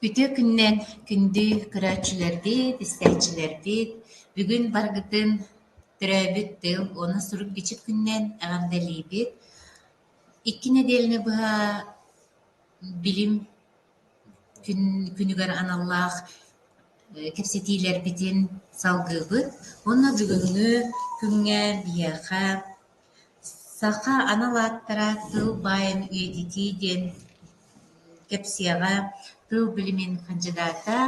Үтүө күнүнэн күндү көрөөччүлэрбит, истээччилэрбит! Бүгүн барыгытын төрөөбүт тыл уонна сурук-бичик күнүнэн эҕэрдэлиибит! Икки нэдиэлэни быһа билим күн- күнүгэр аналлаах кэпсэтиилэрбитин салгыыбыт уонна бүгүҥҥү күҥҥэ биһиэхэ Саха анал ааттара тыл баайын үйэтитии диэн кэпсиэҕэ тыл билимин хандьыдаата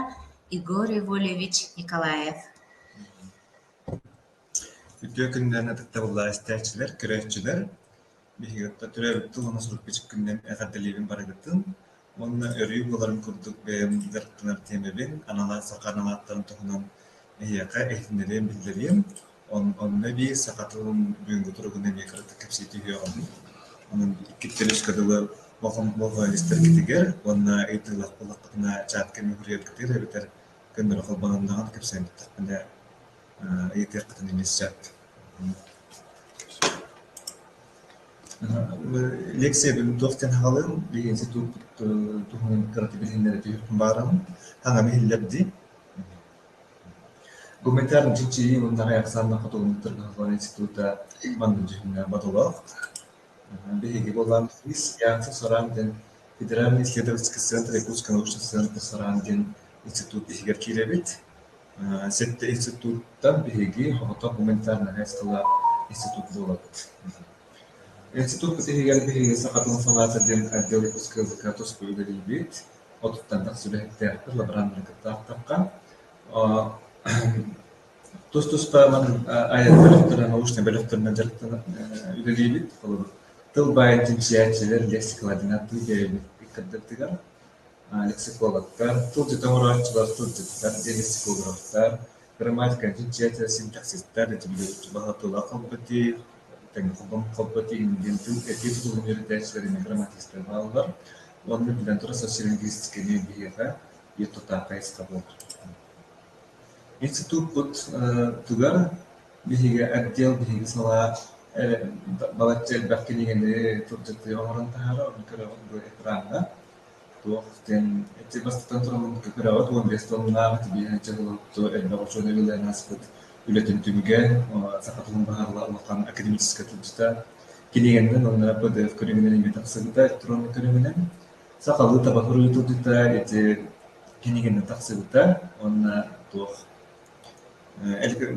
Егор Иванович Николаев Үтүө күннээн атыттабыллаах истээччилэр, көрөөччүлэр! Биһиги төрөөбүт тылына сурук-бичик күнүнэн эҕэрдэлиибин барыгытын! уонна өрүү буларын курдук бэйэм дьарыктанар тиэмэбин аналаан саха аналааттарын туһунан эһиэхэ иһитиннэриэм, биллэриэм. Онно эбии саха тылын бүгүҥҥү туругун эмиэ кыратык кэпсии түһүөҕүм. Онон иккиттэн үскэ дылы моһуолистэргитигэр уонна ыйытыылаах буоллаххытына чатка мөҕүрүйэргитигэр эбэтэр көннөрө холбононноҕун кэпсээн эттэхпинэ ыйытыаххытын эмиэ сөп. Лекциябын туох диэн аҕалыым, биһиэхэ туохпут туһунан кырата билиннэрэ түһүөхпүн баҕараҕын, саҥаны иһиллэр дии. Гуманитарнай чинчийии уонна аҕай ахсааннаах хотугулуктарга форум института маннык дьүһүннээх бодолоох. Биһиги буолаан Яхта Сораан диэн федеральный исследовательский центр Якутская научная центры Сораан диэн институт иһигэр киирэбит. Институттан биһиги Хоһоттон гуманитарнай хайысхалаах институт буолабыт. Институппут иһигэр биһиги саха тылын салаата диэн отдел выпускаһыта туску үлэлиибит. Отуттан тахса үлэһиттээхпит, лабораннары кыттаахтахха. Тус-тустаанан айаннарын научнай бөлөхтөрүнэн үлэлиибит. Тыл баайын чинчийээччилэр лексикаладынан тыл биэрэбит иккэрдэртигэр. Психологтар, тылдьыта оҥорооччулар тылдьыттар диэн психологтар, грамматикабыт дьиэтэ синтаксистар, этиллэрбит баһа тула холботии, тэҥэ холботии диэн тыл этии тутулун үөрэтээччилэринэ грамматистар бааллар. Уонна биллэн турар социолингвистиканы биһиэхэ биир тутаахай саха буолар. Институтпут тыгар биһиги отдел биһиги салаа балачча элбэх кинигэни тылдьыты оҥорон таһаарар, оны көрөҕүт бу экраҥҥа. Туох диэн ити бастатан туран үрэҕит уон биэс тоннаах итирии дьаһалынту элбэх учуонай үлэлээн ааспыт үлэтин түмүгүн, саха тылын баһаарла улахан академическай тылдьыта, килийиэннэн уонна ПДФ көрүҥүнэн эмиэ тахсыбыта электроннай көрүҥүнэн, сахалыы табаһырыы тылдьыта ити кинигэнэн тахсыбыта уонна туох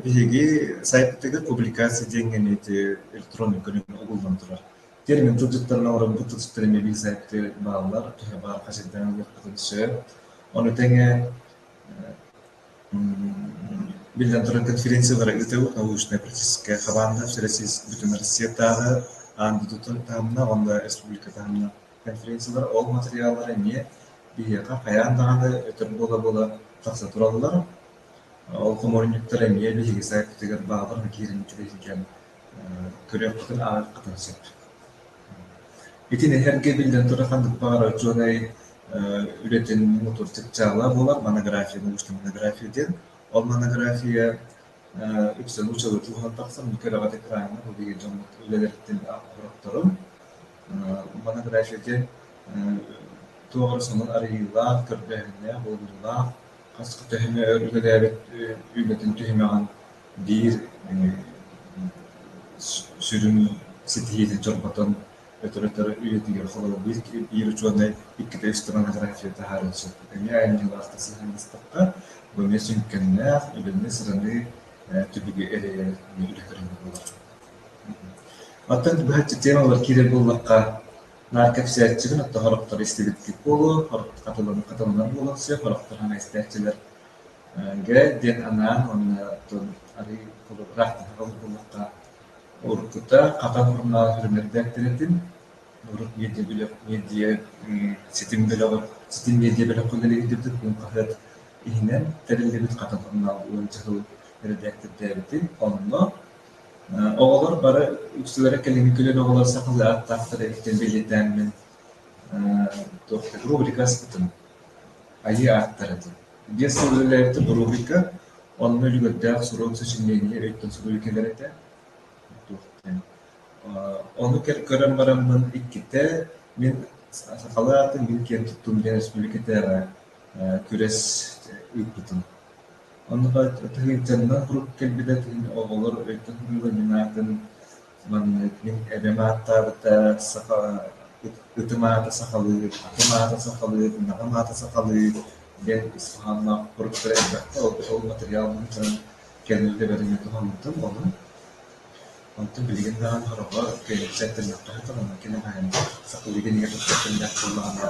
биһиги сайтыгыт публикация диэн ити электроннай көрүҥ угуллан турар. Тиэрмин тылдьыттарына уратбыт тылстэриэмэбиисэптэр бааллар, төһө баар хачырдаан ылыахпытын сөп. Ону тэҥэ биллэн турар, конференция бары ыытабыт научнай практическай хабаанда бүтүн Россиятааҕы аан дойдутан таһымна уонна республика таһымна конференциялар ол материаллары эмиэ биһиэхэ хайаан даҕаны өтөр буола-буола тахса тураллар. Ол хомуурунньуктар эмиэ биһиги сайтпытыгар бааллар, киирэн үчүгэйдик күрүөппүтүн ааҕыаххытын сөп. Итин эһэргэ биллэн турар ханнык баҕарар учуонай үлэтин муҥутуурдьук дьаала буолар монография научна монография диэн. Ол монография үксэ нууччалыы тууһан тахсан кэрэҕит экраана биһиги дьоммут үлэлэриттэн олоротторун. Монография диэн туох эрэ сонун арыйыылаах, көрдөөһүннээх, булгуруулаах, хас төһөмө өр үлэлээбит үлэтин түһүмэҕин биир сүрүн ситиһиитин чорботон өтөр-өтөр үлэтигэр холобур биир учуонай иккитэ үстэнэн аграфия таһааран сөп эмиэ айымньылаахтык сыһыаннастахха бу эмиэ сүҥкэннээх үлэни-сыраны түбүгү эрэйэр үлэ көрүҥэ буолар. Оттон быһаччы темалар киирэр буоллахха, наар кэпсээччибин оттон хороктор истибиттик буолуо, хатыланан буолуохсуйа, хороктор хана истээччилэр Гээ диэн анаан уонна оттон арыый холобураах таһаҕал буолуохха уруккута хата формаҕа сүрүннэрбээттэр этим. Урут медиа бөлөх медиа ситим бөлөҕө ситим медиа бөлөххө үлэлэһиитин уон хаһыат иһинэн тэриллибит хата формаҕа уонча сыл эрэдээктэрдээбитим. Онно оҕолор бары үксүлэрэ кэлиҥҥи көлүөнэ оҕолоро сахалыы ааттаахтара иһиттэн бэлиэтээммин туох да рубрика аспытым. Айыы ааттара дии, биэс сыл үлэлээбитэ боруобуйка, онно үлүгэрдээх сурук сочинение өйтөн суруйу кэлэр этэ. Туохтан Ону көрөн бараммын иккитэ мин сахалар аатын мин киэн туттуум диэн республикатааҕы күрэс ыыппытым. Онно тыһыынчаннан курук кэлбитэ, оҕолор өйтөн суруйулар мин аатын Маннык мин эбэм ааттаабыта саха ытым аата сахалыы, атым аата сахалыы, ынаҕым аата сахалыы диэн ис хоһоонноох туруктары элбэхтэ ол ол матырыйаалбын көрөн кэннибин да бэринэ туһаммытым ону. Онтон билигин даҕаны сороҕор киэһэччи аттыннахха сатанан кини хаһан сахалыы кинигэ туттар кэмнээх буоллаҕына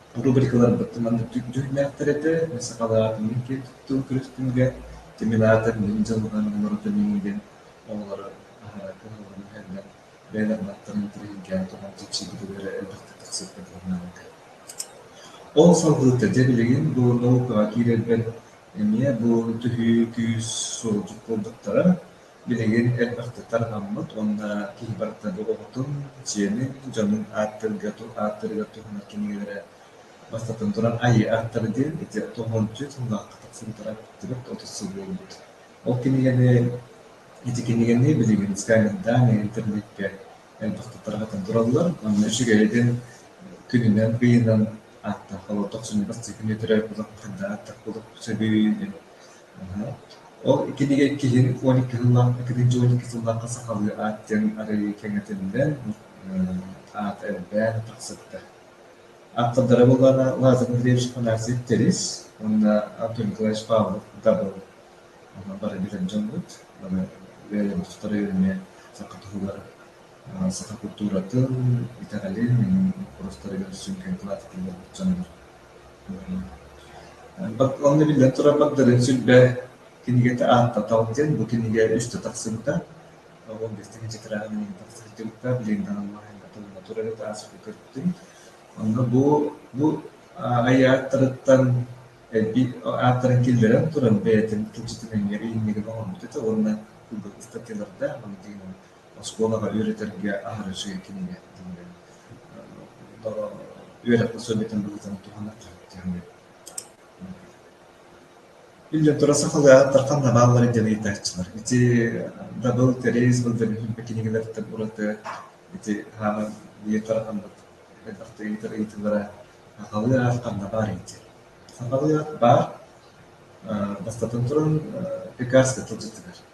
Рубрикаларбыт маннык дьүһүйүүлээхтэр этэ, сакалаатынын киэр туттуу күрэхтэргэ Тимилаатар Мин дьылҕам уларыта миигин оҕолоро аһара кыһаллан иһэллэр, бэйэлэр баттарын тириһиргээн туран чэпчиикитигэр элбэхтик тахсыахха дылы наадата. Ол салҕыыта, дьэ билигин бу наукаҕа киирэрбэр эмиэ бу түһүү күүс суолдьут буолбуттара. Билигин элбэхтик анаммыт уонна киһи барыта доҕоҕутун, дьиэни, дьонун ааттыырга ааттыырыгар туһанар кинигэлэрэ бастатан туран «Айыы ааттара» диэн ити тоҕоончуй тыллаахха тахсыбыттара түөрт отут сыл буолбут. Ол кинигэни ити кинигэни билигин Скамейдаан интернетгэ элбэхтик тарҕатан тураллар уонна үчүгэйин күнүнэн, ыйынан ааттаан хаалар тохсунньу бастакы күнү төрөөт булан ханна ааттах булук сөбүй Ол итинигэр киһи он икки сыллаах итинник дьыл он икки сыллаахха сахалыы аат диэн арыйыы кэҥэтиллэн аат элбээн тахсыбыта. Ааптардара буоллаҕына Лазарь Андреевич Афанасьев Тэрис уонна Антон Николаевич Павлов Дабыл бары билэр дьоммут. Бары бэйэлэрэ эмиэ саха туһугар саха култууратын, итэҕэлин, уустарын көрсөн киэҥ кылаат этиллэрбит дьоннор. Уонна биллэн турарбар Дарын Сүлбэ кинигэтэ ааттатал диэн бу кинигэ үстэ тахсыбыта. Ол бэстикэнчэ тыраҕа билигин тахса сылдьыбыта, билигин да аналлаһа толоно турар это ааспыты көрдүм. Онно бу бу айааттарыттан элбик ааттарын киллэрэн туран бэйэтин тылдьытын эмиэ иһиннигин оҥорбут этэ уонна ылбыт ыстатыйаларда. оскуолаҕа үөрэтэргэ аһара үчүгэй кинигэ тиллэр үөрэххэ сылдьытын быһыытын туһаныахха диэхпин Иллин тура сахалыахтар ханна баалларын диэн ыйытааччылар. Ити дабыл кэрейс был дөлүһүмпэ кинигэлэртэн ураты ити хааман биир тарахаммыт элбэхтэ ыйытар ыйытыылара сахалыах ханна баар эти. Сахалыах баар бастатын туран пекарска тылдьытыгар.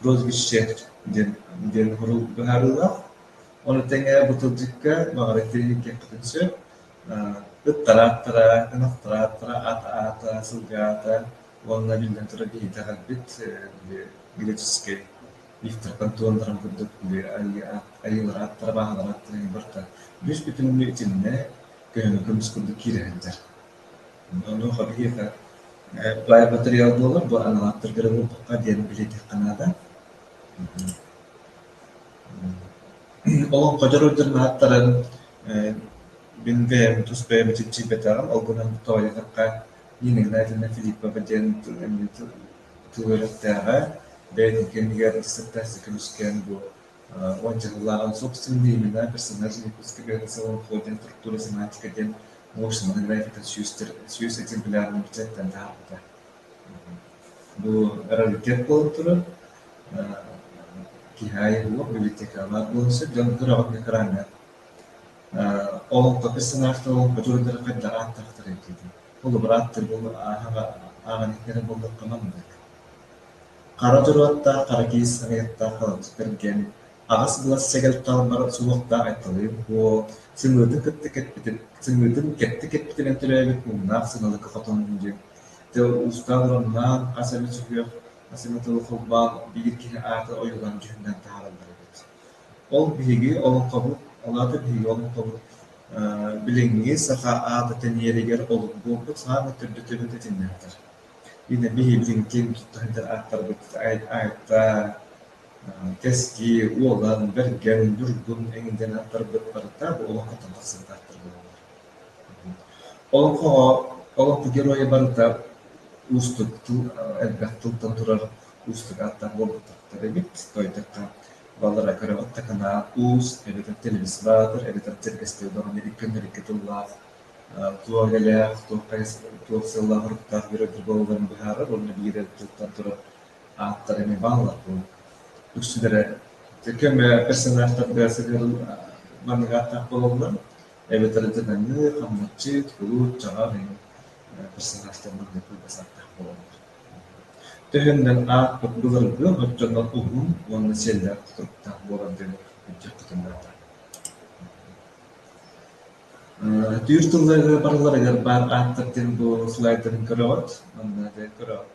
прозвище диэн диэн сурук быһаарыылаах. Ону тэҥэ бу тылдьыкка баҕарар тириниккэхпитин сөп ыттара аттара ынахтара аттара ат аата сылгаата уонна биллэн турар киһитэ хальбит греческий лифтартан туондаран курдук айыылара аттара бааһылара аттара барта бүүс бүтүннүү итиннэ көһөҥө көмүс курдук киирэ сылдьар Онуоха биһиэхэ тулаайах матырыйаал буолар, бу аналогтарга эрэ буолбакка диэн билиэтиэххэ наада. Олоҥхо дьоруойдарын ааттарын э, мин бэйэм тус бэйэм ичиччийбэтэҕим, ол гынан тоойотоххо Нина Игнатьевна Филиппова диэн тыл үөрэхтээҕэ, бэйэтин кэмигэр ыстыктаах Сикрүскээн бу уон дьыллааҕын собственный имена, персонаж выпуска Бэйэтэ Солонхо диэн структура семантика диэн Ох, Самодельная это сүүс сүүс экземплярын бюджеттэн таһаарбыта. Бу раритет буолан турар. Киһи айыллыах библиотекалаах буолан сөп дьон ыраҕытык араҥа. Олоххо персонаж тыл бочуруттары хайдах ааттаахтарый диэтим. Холобур ааттар буолу ааһаҕа ааҕаныктары болдоххо маннык. Хара дьоруоттаах, хара киис аҕыйаттаах халадыктаргэн аҕыс былас сэгэл таалбара суохтаах айкалыым буо, сымыытын кытта кэппитим, сымыытын кэттэ кэппитинэн төрөөбүт муҥнаах сыналыка хотон дьиҥ, дьэ уустаах ураннаан хас эмэ сүһүөх, хас эмэ тылы холбоон биир киһи аата ойуулаан дьүһүннээн таһаараллар эбит. Ол биһиги олоҥхобут, алаата биһиги олоҥхобут билиҥҥи саха аата тэнийэригэр олук буолбут саамай төрдө төрүт этиннээхтэр. Ина биһиги дьиҥкин тутта сылдьар ааттарбыт айта, кэскил, уолан, бэргэн, дургун эҥин аттарбыттарыттара буолан-хатан тахсыбыттар буолаллар. Олоҥхоҕо олоҥхо геройа барыта уустук тыл элбэх тылтан турар уустук ааттаах буолбаттар эбит. Тойотоххо балара көрөҕүт да канаа уус эбэтэр телевиз баатыр эбэтэр тиргэстэй олорон ириккэннэрикки тыллаах туох элээх туох хайа туох сыллаах уруктаах бүрөбүр буолалларын быһаарар уонна биир эр тылтан турар Ааттара эмиэ бааллар буолан, үксүлэрэ көмө персонажтарга сыһыан маннык ааттаах буолаллар, эбэтэр дьадаҥы, хамначчыт, кулут, чаҕах иһин персонажтар маннык кылгас ааттаах буолаллар. Төһөннөн аат былыргы оччоно уһун уонна сиэллээх тутуктаах буолар диэн ыччаппытын наада. Түүр тылларыгар барыларыгар баар ааттар диэн бу слайдарын көрөҕүт, манна көрөҕүт.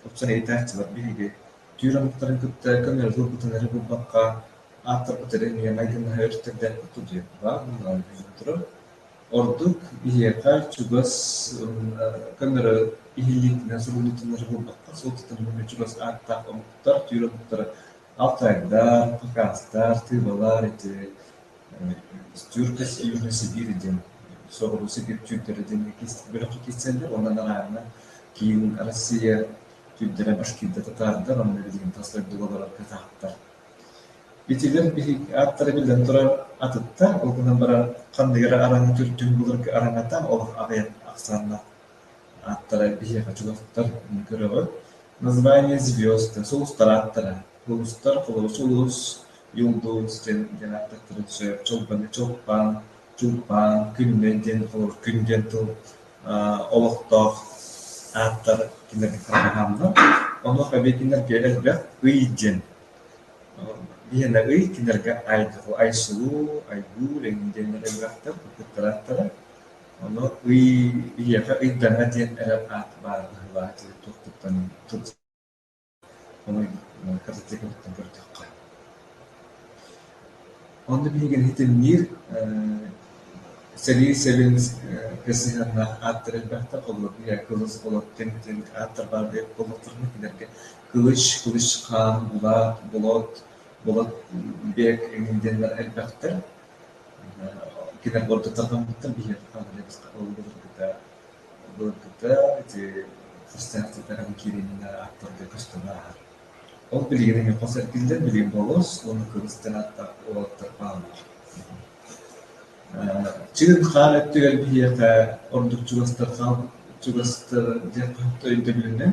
Уопсайытааччылар биһиги, түүр омуктарын кытта көҥүлгэ ылбытынары булбакка, ааттарбыт эрэ нүөмэй гыннаһа үстэрдээхпит дии, баар буоллаҕа ити сотору. Ордук биһиэхэ чугас көмөрө иһиллиитинэн субуйуутунары булбакка, суолтатын булунна чугас ааттаах омуктар, түүр омуктара Алтайдар, Пыкаастар, Тыыбалар ити Стюрка Сиюна Сибиир диэн соҕуруу сибиир түүрдэрэ диэн бөлөххө киирсэллэр уонна арааһына киин Россия түүрдэрэ башкирда татаардар уонна билигин тас дойду уоллара кытаахтар. Итилэр биһиги ааттара биллэн турар атыттар, ол гынан баран ханныгы эрэ араҥа түрдүн былыргы араҥата олох аҕыйах ахсаана Ааттара биһиэхэ чугастар, көрөҕү, название звезды, сулустар ааттара, улустар холобус улус, юлдус диэн диэн ааттахтара түсэр, чолбоне чолпан, чулпан, күннэ диэн холобур күн диэн тыл олохтоох ааттар кинилэргэ хаһааннар. Онуоха эбии кинилэргэ элбэх ый диэн биһиэнэ ый кинилэргэ айдыһу айсылуу, айгуу, эҥии диэннэр элбэхтэр, кырдыктар ааттара. Ону ый биһиэхэ ыйдаҥа диэн эрэ аат баар быһыылааҕа киһи туохтуттан мотоциклыттан көрдөххө. Онно биһиги иһитинниир сэрии сэбиэҥ сыһыаннаах ааттар элбэхтэр, холобура биһиэхэ кылыс олох кэмитиэн ааттар баар буоллахтарына кинилэргэ кылыч, кылыч хаан, булаат, болот, болот бэк диэннэр элбэхтэр. Кинилэр былыргыттан хоммуттар, биһиэхэ хаалбыта былыргыта былыргыта ити хастаахтык аҕам киириэнинэ ааттарга көстөн ааһар. Ол билигин эһиэхэ хос эргиллэр, билигин болос уонна кырыс диэн ааттар уолаттар хааллылар. Чыгын-хаан өттүгэр биһиэхэ ордук чугастар хаал чугастар диэн өйдөбүлүнэн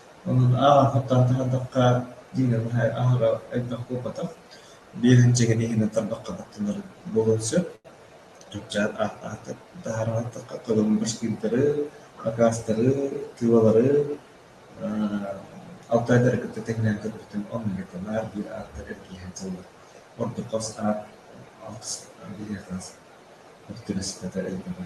Онон ааҕаахтаахтык ардахха дьиҥэ наһаа аһара элбэх буолбатах. Биэрээнчэгини иһинэн тарбахха тахсынар буолуон сөп. Чупчаан ааттаахтык таһаараахтыкка кылын башкирдары, акаастары, тыылары аа Алтайдары кытта тэҥнээн көрбүтүм оннук этэ. Наар биир ааттар эргийэн сыллар. Ордук хос аат алгыс биһиэхэ тылсыппатар элбэҕэ.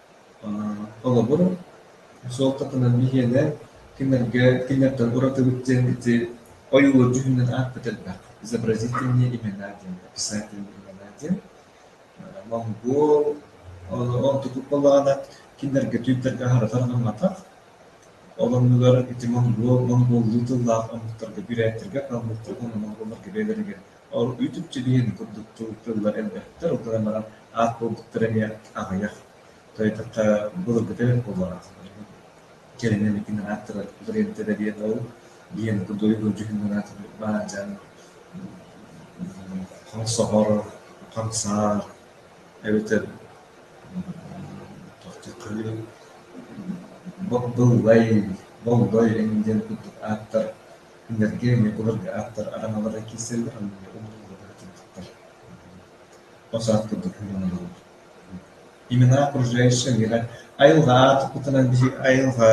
Холобур, суолтатынан биһиэнэ кинилэргэ кинилэртэн уратыбыт диэн ити ойуулар дьүһүнүнэн аатпыт элбэх. Изобразительные имена диэн, описательные имена диэн. Монгуол, онтукут буоллаҕына кинилэргэ түүрдэргэ аһарытар гымматах. Ол оннугар ити монгуол, монгуоллуу тыллаах омуктарга, бүрээттэргэ, калмыктарга, монголларга бэйэлэригэр Оргуйдук чилиэн курдук тулуктууллар элбэхтэр, ол гынан баран аах буолбуттара эмиэ аҕыйах. Тойотоххо былыргыта буоллаҕа. Кэлин эмиэ ааттара Лорентода диэн уол диэн дойду дьүһүнүнэн аата баадьаан хаҥ соҕор, хаҥ саар эбэтэр тохтуохха үһү Боллой, Боллой эҥин диэн курдук ааттар Кинилэргэ Ньукулап ааттар араҥалара киирсэллэр уонна ол уулатара тимиттэр хос ааттарбыт муҥунабыллар Имена окружающая миэхэ айылҕаҕа туппутунан биһи айылҕа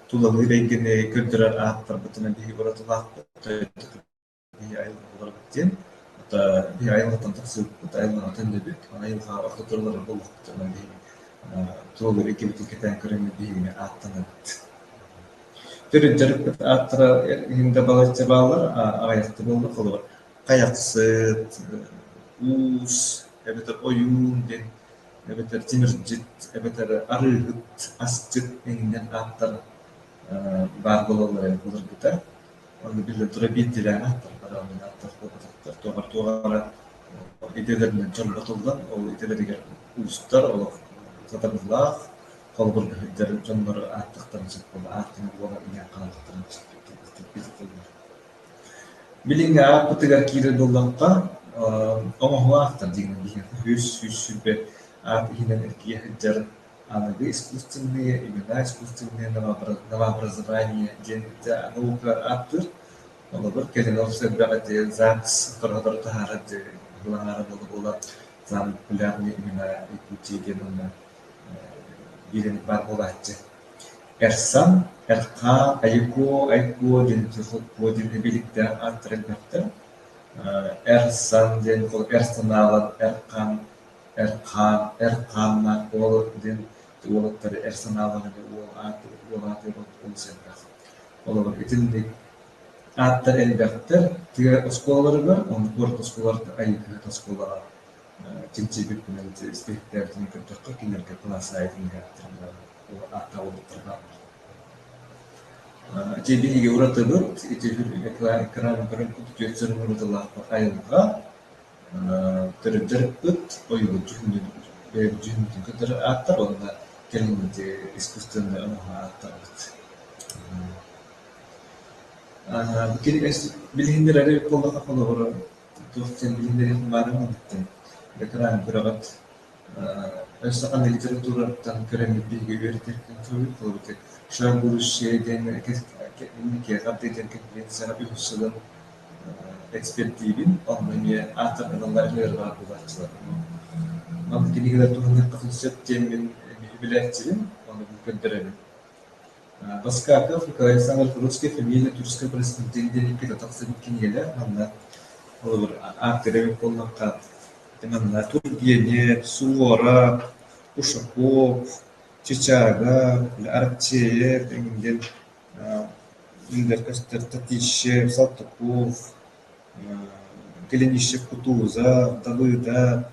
тулалыыр эйгэни көрдөрөр ааттарбытынан биһи уратылаахпыт биһи айылҕа буоларбыт диэн ата биһи айылҕаттан тахсыбыппыт айылҕаҕытын дөбүт айылҕаҕа орто тураллар буолуохпутунан биһи тулалыыр эйгэбитин кэтээн көрөммүт биһигини ааттанабыт Төрүт дьарыкпыт ааттара иһин да балачча бааллар, аҕыйахта буоллар холобур хайахсыт, уус эбэтэр ойуун диэн эбэтэр тимирдьит эбэтэр арыыһыт, асчыт иннинэн ааттара баар буолаллар ээ былыргыта. Онно биллэн турар биирдилээн ааттар барааллар ааттар буолбатахтар. Туохар туох эрэ идэлэринэн чорботуллан ол идэлэригэр уустар олох сатабыллаах холбургаһыттарын дьоннору ааттахтара сөп буола ааттара буола иһэн хаалыахтара сөптөөх кэлбэхтик кэбиһэтэллэр. Билиҥҥи ааппытыгар киирэр буоллахха, оҥоһуу ааттар диигин биһиэхэ үһүс сүүс сүүрбэ аат иһинэн эргийэ сылдьар аныгы искусственные имена, искусственные новообразования диэн наукаҕар ааттыыр. Холобур, кэлин олус элбэх эти ЗАГС тороһолору таһаарар быһаара буола буола самые популярные имена Якутии диэн онно Илин-бар буолааччы «Эрсан, Эрхаа, Айыкуо, Айкуо» диэн Чехокуо диэн эбиликтээх ааттара бөлөхтөр. Эр-сан диэн эр санаалар эр-хаан, эр-хаа, эр-хааннаах уол диэн уолаттары эр санаалаах ини уол аата уол аата олус элбэх. Олорор итинник ааттар элбэхтэр. Тыа оскуолаларыгар, онно куорат оскуолаларыгар Айыкуо оскуолалара. кэнсиэрбит күннэригэр испэктээкитин көрдөххө кинилэргэ кылаас аайы түмүгэхтэринэ ааттаабыттарга ити биһиги уратыбыт ити экран көрөн курдук түөрт сырын уратылаахпыт айылҕа төрүттэрпит ойуурдьут дьүһүнүн кытары ааттар уонна кэлиҥҥити искусственнай оҥоһу ааттарбыт билиһиннэрэр буоллахха холобура туох кэлбитин баарын иһиттим. Бэтэрээн күрэҕит өссө ханна литератураттан көрөммүт биһиги үөрэтэргин көҥүл ылабытыҥ. Шар будущее диэн киэхэ диэн конференцияҕа үһүс сылын экспэртиибин, онно эмиэ ааттар аналлар эмиэ ырҕаан булааччыларым. Манна кинигэлэр туһаныахха сөп диэммин эбии билээччибин, ону көрдөрөбүн. Поскаков Крайсаҥы русская фамилия Тюркскай происхождениетин иккитэ тахсыбыт кинигэлэр манна холобур ааттыыр эбит буоллахха манна Тургенев, Суора, Ушаков, Чычага, Арчеев эҥин диэн биллэр көстөр Татищев, Салтыков, Кленищев Кутуза, Далыда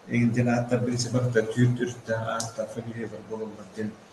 эҥин диэн ааттар барыта түөрт-төрүттээх ааттар фамилиялар буолаллар диэн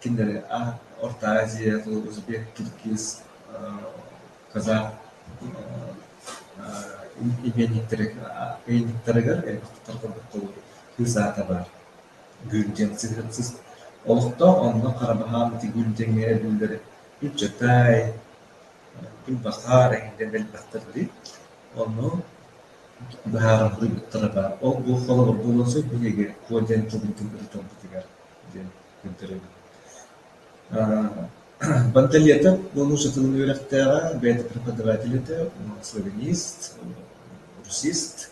Кинилэри Орто Азия, узбек, киргиз, казах ыйынньыктарыгар элбэхтэр курдук тылы кыыс аата баар гүрдьэн сыһыансыт олохтоох онно хара баһаам ити гүрдьэҥҥэ эбиллэр быччатай куйбахаар эҥинэн элбэхтэр дии ону быһаараллыы быттара баар ол бу холобур буолуон сөп биһиги куо диэн тылбытын ырытарбытыгар Панталета бу муусукатын үөрэхтээҕэ, бэйэтэ преподаватель этэ, славянист, русист,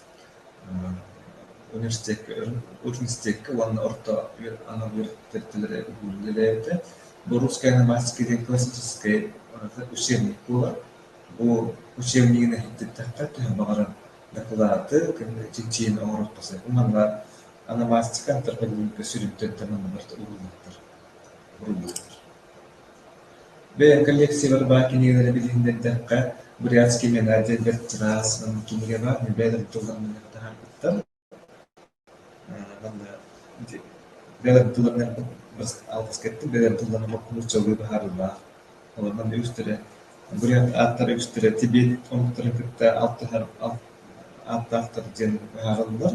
университекка уонна орто анал үөрэхтэрэ үлэлээбитэ. Бу «Русская ономастика» диэн классическай учебник буолар. Бу учебнигын иһиттэххэ төһө баҕарар дакылааты, чинчийини оҥоруохха сөп. Манна анамаастыка антропологическай сүрүнтэн манныбарта ууруллубуттар ууруллубуттар. Бэйэм коллекциябар баар кинигэлэри билиһин да эттэххэ, Брянский Менадия бэрт чараас кинигэ баар, мен бэйэлэрим тылларынан таһаарбыттар. Манна бэйэлэрим тылларынан алгыс кеттим, бэйэлэрим тылларынан нууччалыы баһаарылаах. Олорнон үстэрэ бурят ааттара үстэрэ тибет оҥоттора кытта алтыһар ааттаахтар диэн быһаарыллар.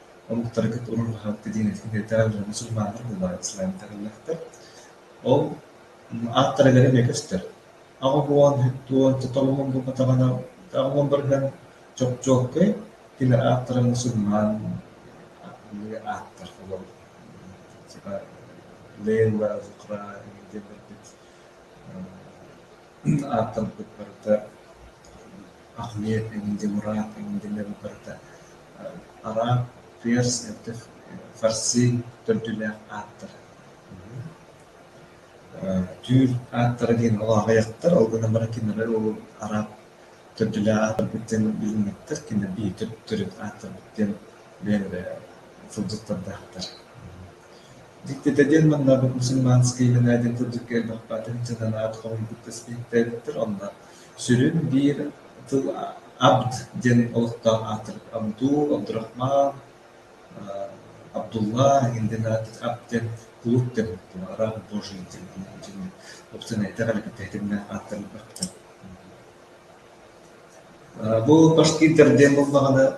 Омуктары кытта умуллубакка диэн этэрдээх дьону сурмааннар буолаары сылаантарыллахтар. Ол ааттарыгар эмиэ көстөр. Аҕабуон, һүттуон, тотоҕоһун булбатаҕына аҕабуон барыһан чопчуоккай, кини ааттарыгар сурмаан ааттар типа Лейла, Зухра диэн ааттаммыт барыта Ахмет эҥин Демурат эҥин биллэрбит барыта араб, перс, эрдэх фарси төрдүлээх ааттара. түүр ааттара диэн ол аҕыйахтар, ол гынан баран кинилэр ол араб төрдүлээх ааттарбыт диэн билиммэттэр, кинилэр биһиги төрүт ааттарбыт диэн бэйэлэрэ сылдьыттардаахтар. Дьиктитэ диэн маннарбыт мусульманскай Юнайтед курдук кэлбэхпэтин дьаданаат хоруйбут көспүттээбиттэр онно сүрүн биир тыл «абд» диэн олохтоох аатыр Абдул, Абдурахман, Абдулла иһин аат «абд» диэн кулут дэммиттэр араб божий диэн оптинайтар алфавитиннээх ааттарын бахтар Бу башкирдар диэн булмаҕына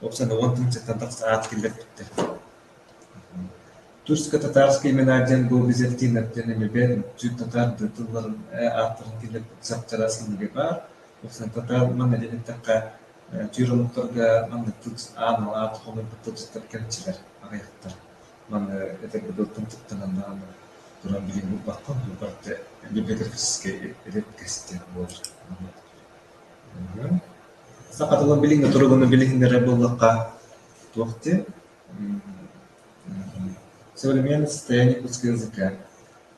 Уопсанабыл функцияттан тахса аат киллэрбиттэр Турско-татарская мелодия гобби-зертинаттан эмэбэн бүт татар да тылларын ааттарын киллэрбит саптара сылыга баар уопсан татар манна дэниттэххэ түүр омуктарга манна тыл аан алаат хомуйбут тылдьыттар кэрчилэр аҕыйахтар манна эдэргэ дылтан тыктананнаан туран билин булбаккын барыта библиографическай эдэр кэстиэн буолар Саха тылын билиҥҥи туругуну билиһин эрэ буоллахха туох диэ современное состояние русского языка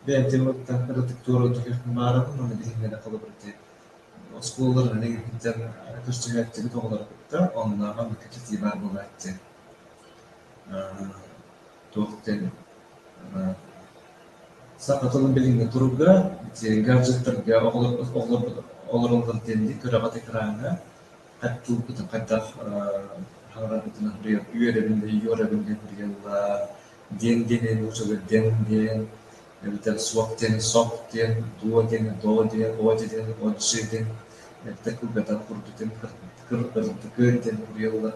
бэйэм дьоммуттан кыратык туоруутук баарын манна билиһин эрэ холобур диэн оскуолаларын эрэгийиттэн көрсүһээччибит оҕолору кытта оннооҕор манна кэпсэтии баар буолааччы туох диэн саха тылын билиҥҥи туруга гаджеттарга олороллор диэн күрэҕи экраҥҥа хаттыылбытын хайдах хаҥарарбытын үөрэбин да үөрэбин диэн прияллар диэн диэн нууччалар диэн диэн эбэтэр суох диэн сох диэн дуо диэн доо диэн оти диэн отжи диэн эттэ кылгатар курдук диэн кырдыкы диэн прияллар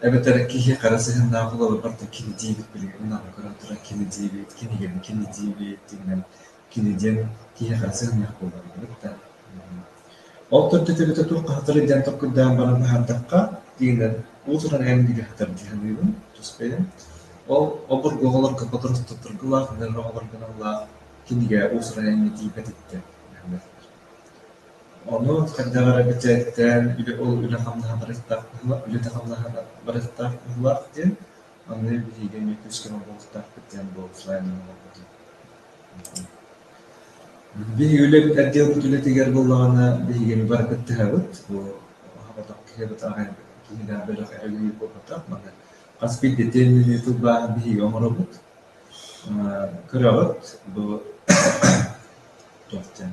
эбэтэр киһи хара сыһыаннаах уларыппат да кини диэбит билигин наада көрөн туран кини диэбит кинигэбин кини диэбит диэннэн кини диэн киһи хара сыһыаннаах буолар эбит да ол көрдөтөбүтэ туох хатары диэн токкурдаан баран аһардахха тигинэн уутунан эн диги хатар диханыыбын туспейын ол обургуоларга подоротторгылаах нөрөҕолоргуналлаах кинигэ уусуран эмми диипэтиттэ Ону хайдах эрэ бэчээттээн үлэ ол үлэ-хамнаһа барыстаах быһыылаах, үлэтэ-хамнаһа барыстаах быһыылаах диэн, аны билиигэ эмиэ күүс-көмө буолуохтаахпыт диэн буолусаайын оҥорбутум. Биһиги үлэбит, отделбыт үлэтигэр буоллаҕына, биһиги эми бары кыттыһабыт. Бу аһаабатах киһибит аҕай киһинээх бөлөх эрэгийиэ буолбатах. Маны хас биирдии тыынньыны тылбааһын биһиги оҥоробут. Кыраҕыт бу туох диэн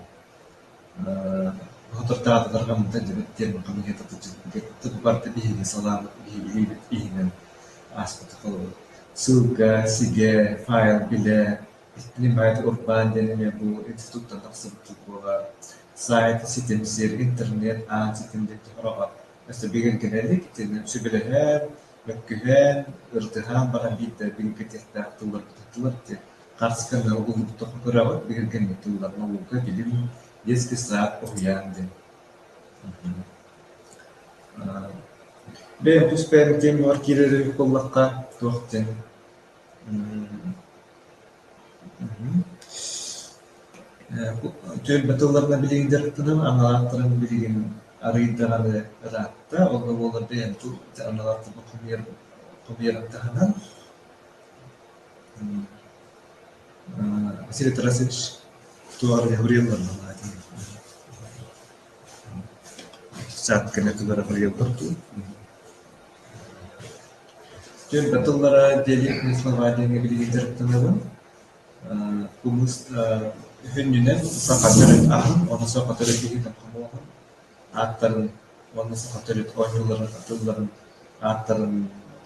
соторутааҕы атырҕа мунта диэбит диэн хамыыһыйата сылдьыбыппыт кытта бу барыта биһиги салаабыт биһиги иһинэн ааспыта холобур сылга сигэ файл билэ снимать урбаан диэн эмиэ бу институттан тахсыбыт буолар сайт ситим сир интернет аан ситим диэн өссө бигэргэнэр итинэн сөбүлэһэр мөккүһэн, ырдыһан баран биирдэрбин кэтиэхтээх тыллар диэн харыс гына уһуктух үрэҕи биһиргэни тылларга уолга билим диэс кыстаат уһуйаан диэн бэйэм тус бэйэм диэн буолар киирэр үһү буоллахха туох диэн Түөлбэ тылларынан билиһиннэрэхпинэ аналаахтарын билигин арыйдаҕына ыраатта. Ол да буоллар бэйэм тыл аналаахтарбын хомуйар таһынан Василий Тарасович туох эрэ уруйалларын анаатым. Саат кэннэ тугу эрэ хоруйаллар дуу Түөлбэ тыллара диалектный слова диэҥҥэ билигин дьарыктанабын. Кымыс һүнньүнэн саха төрүт аһын, уонна саха төрүт иһитин хомуоһун ааттарын уонна саха төрүт оонньууларын тылларын ааттарын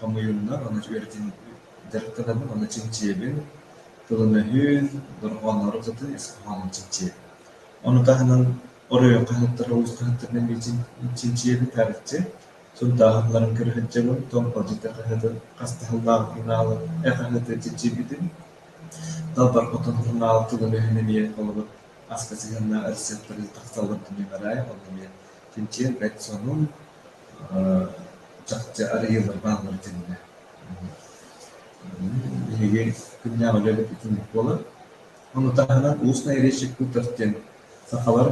хомуйуннар, уонна үөрэтин дьарыктанабын, уонна чинчийэбин. Тылын-өһүн, дорҕоонноору ытытын ис хоһоонун чинчийэбин. Ону таһынан оройуон хаһыаттара, улуус хаһыаттарынан чинчийэбин, харыччы. Сурдааһыннарын көрө сылдьабын, тоҥ болдьоко хаһыытын, хас таһыллаах финалы, э хаһыытын чиччийбитим. Далбар отон сурунаал тылын өһүн эмиэ холобур аска сыһыаннаах ырысыаптарын тахсалларын түмүгэлэрэ онно эмиэ чинчийэн бэрт сонун, чахчы арыйыылар бааллара этилиннэ. Биһиги күннээх үлэлэппитин буолар. Ону таһынан «Устная речь культов» диэн сахалар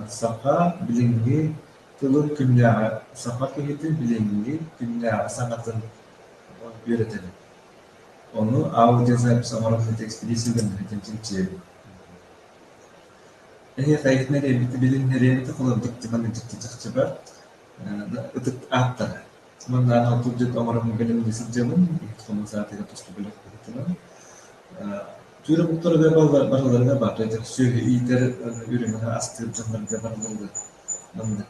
саха билиҥҥи Тылын күннээҕи саха киһитин билиҥҥи күннээҕи саҥатын үөрэтэбин. Ону аудиозапись оҥорорго тэкстилии сыһыаннаһыытын чинчийэбин. Эһиэхэ билиннэриэҥ тыл ордук дьаһан дьикти чахчыба ытык ааттара Манна анал кырдьык оҥорон бэлэм да сылдьабын, икки хонук саатыгар туспа бөлөх кыһатынам. Түүрэ бултарыгар барыларыгар баар, то это сүөһү иитэр үрүҥү астыыр дьоннорго барыларыгар маннык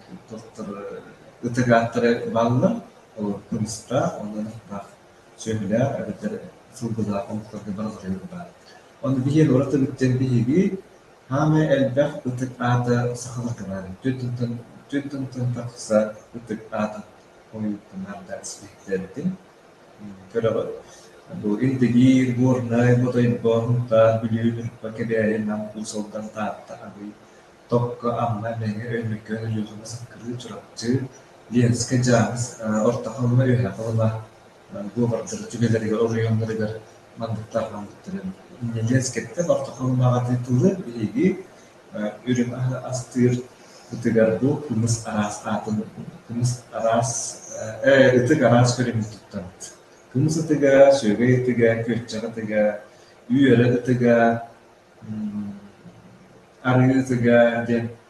ытыгааттары бааллар. Ол кымыстаах, онон ытыктаах сүөһүлээх эбэтэр сылгылаах омуктарга барыларыгар баар. Ону биһиги олорото бүттэн биһиги Хаамыы элбэх ытык аата сахаларынан түн-тун-тун тахса ытык аатын хойуутунарда испиттэритин көрөҕүт. Бу Илдигиир, Горнай, Ботойго, Һунтаар, Бүлүү, Ньурба, Кэбээйи, Нам, Уус-Алдан, Таатта, Абый, Токко, Амма, Мэҥэ, Өймөкөөн, Өлүөхүмэ, Саккырыы, Чурапчы, Ленскэй, Дьааҥыс, Орто Халыма, Үөһээ Халыма, бу олордор дьүгэлэригэр оройуоннарыгар манныктаах мамыктары нэдиэлэ кэттэн орто халымаҕа дии тылы биһиги үрүҥ астыыр ытыгар бу кымыс араас аатын кымыс араас ытык араас көрүҥүн туттарбыт кымыс ытыга сүөгэй ытыга күөччэх ытыга үөрэ ытыга арыы ытыга диэн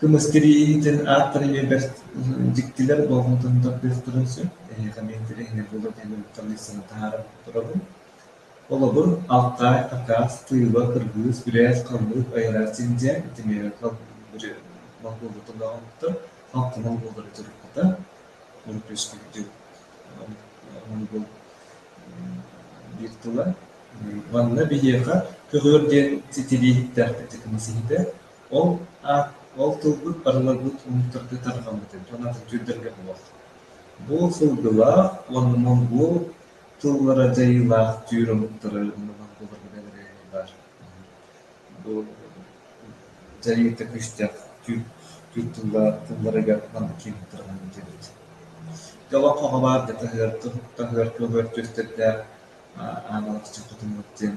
Кымыскы иитин ааттара эмиэ бэрт дьиктилэр болҕомтотун тардыахтарын сөп. Эһиэхэ миэн тэрээһинэ буолуо диэн уруттаныы сыана таһааран турабын. Холобур, алтай, акаас, тыыла, кыргыыс, күрээс, халлык, айараа синдьэ, итимиэхэ волкулата доҕомтор, халтанал буолары туруката. Урут үөскүүрдүк онугу биир тыла. Манна биһиэхэ көҕүөр диэн ситирииһиттээхпит кымыс иһитэ. Ол аат ол тылбыт барыларбыт омуктарга тарҕаммыт эбит уонна түҥкүрдэргэ буолар. Бу сылгылаах уонна бу тыллара дьайыылаах түүр омуктары умнубат буоларга бэлэҕи баар. Бу дьайыыта күүстээх түүр түүр тыллара тылларыгар маннык тарҕаммыт эбит. Ити олоххо хабаар да таһыар таһыар көҕөр түстэрдээх аан алгысчыт хотуммут диэн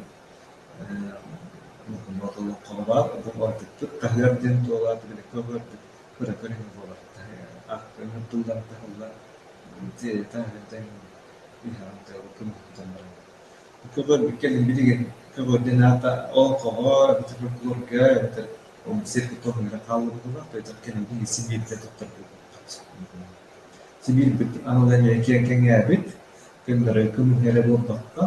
Онтон олоххо баар буолбатык таһыар диэн туолаат биликкэ олордук быракар үһү буолар аахтарынан тыллар таһыллар дьиэтэн иһэҕин тыала көмүһүттэн баран көбөрбүккэ билигин көбөрдүн аата ол кого эбэтэр прокурорга эбэтэр сир кутуох үөрэ хааллыбыта тойтох кэнники сибиирдэ тотторбут сибиирбит аналын кэҥээбит көннөрү көмүһэрэ буолбакка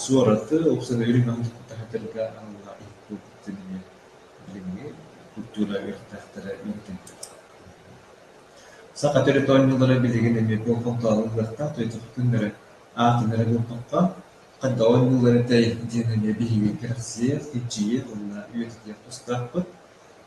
Суораты ыксалыыр маһы кытта хатырга аналга ыыппыппытын эмиэ билиҥҥи культура үөрэхтээхтэрэ иһитиннэр Саха төрүт оонньуулара билигин эмиэ туоххалтааҕы ылыахтаах туйахтыын эрэ аатын эрэ бултахха, хайдах оонньууллар этэй диэн эмиэ биһиги кэрэхсиэх, илдьийиэх уонна үйэтитиэх тустаахпыт.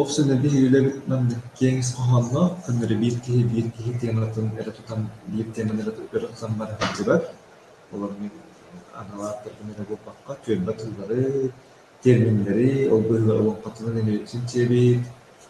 Ох сэнэбил үлэбитинэн киэҥ ис хоһоонноох, көннөрү биир киһи биир киһи тематын өрө тутан биир теманы өрө тутан баран тахсыбат. Ол оннук анал ааттарбын эрэ булбакка түөлбэ тыллары, терминнэри, ол быһыылар олоҥхотунан эмиэ үксүн сиэбит.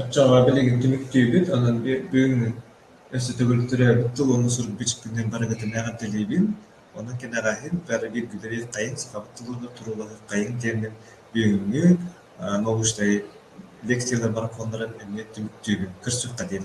Оччоҕо билигин түмүктүүбүт, онон бүгүҥҥү өссө төгүл төрөөбүт тылыны суруйбут барыгытын эҕэрдэлиибин. Онон кэнэҕэһин бары бииргилэри хайыҥ, сахабыт тылыгар туруулаһыаххайыҥ диэммин бүгүҥҥү научнай лекциялар марафоннарын эмиэ түмүктүүбүн. Көрсүөххэ диэн